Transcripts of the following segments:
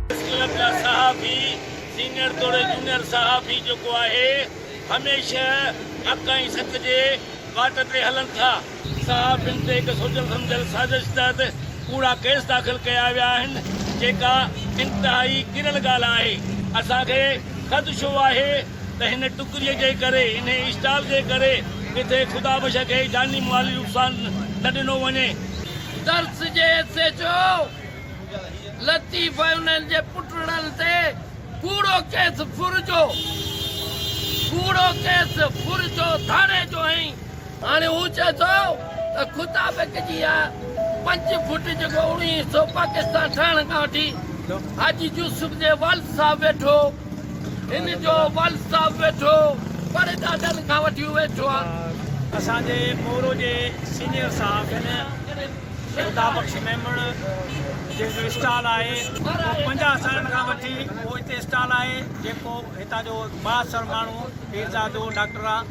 Press club جا صحافي senior توڙي جونئر صحافي جيڪو آهي هميشه حق ۽ سچ جي واٽ تي هلن ٿا. صحافين تي هڪ سوچيل سمجهيل سازش تحت ڪوڙا ڪيس داخل ڪيا ويا آهن جيڪا انتهائي ڪريل ڳالهه آهي اسان کي خدشو آهي ته هن ٽڪريء جي ڪري، انهيء اسٽال جي ڪري ڪٿي خدا بخش کي جاني مالي نقصان نه ڏنو وڃي. درس جي ايس ايڇ او لطيف ۽ انهن جي پٽڙن تي ڪوڙو ڪيس ڦرجو ڪوڙو ڪيس ڦرجو ڌاڙي جو ۽ هاڻي هو چئي ٿو ته خدا بخش جي اها پنج فٽ جيڪو اوڻيهه سؤ پاڪستان ٺهڻ کان وٺي حاجي يوسف جي والد صاحب ويٺو هن جو والد صاحب ويٺو پڙهي ڏاڏن کان وٺي ويٺو آ. اسان جي مورو جي سينئر صاحب هن خدا بخش ميمڻ جن جو اسٽال آهي اهو پنجاهه سالن کان وٺي اهو هتي اسٽال آهي جيڪو هتان جو بااثر ماڻهو پيرزادو ڊاڪٽر آ.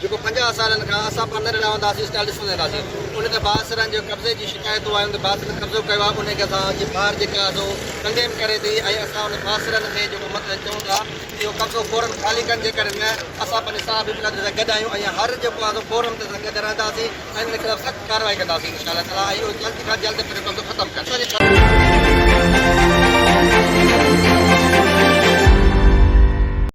جيڪو پنجاهه سالن کان اسان پڙهندڙ رهندا سين اسٽائل ڏسندا ايندا سين ان تي بااثرن جي قبضي جي شڪايتون آيون ته بااثرن قبضو ڪيو آهي انهي کي اسان جي ٻار جيڪي آهي سو ڪنڊيم ڪري ٿي ۽ اسان ان بااثرن کي جيڪو مطلب چئون ٿا اهو قبضو فورن خالي ڪن جيڪڏهن نه اسان پنهنجي صحافي برادري سان گڏ آهيون ۽ هر جيڪو آهي سو فورم تي اسان گڏ رهندا سين ۽ انهن خلاف سخت ڪارروائي ڪندا سين انشاء الله تعالي ۽ اهي جلد کان جلد پنهنجو قبضو ختم ڪن.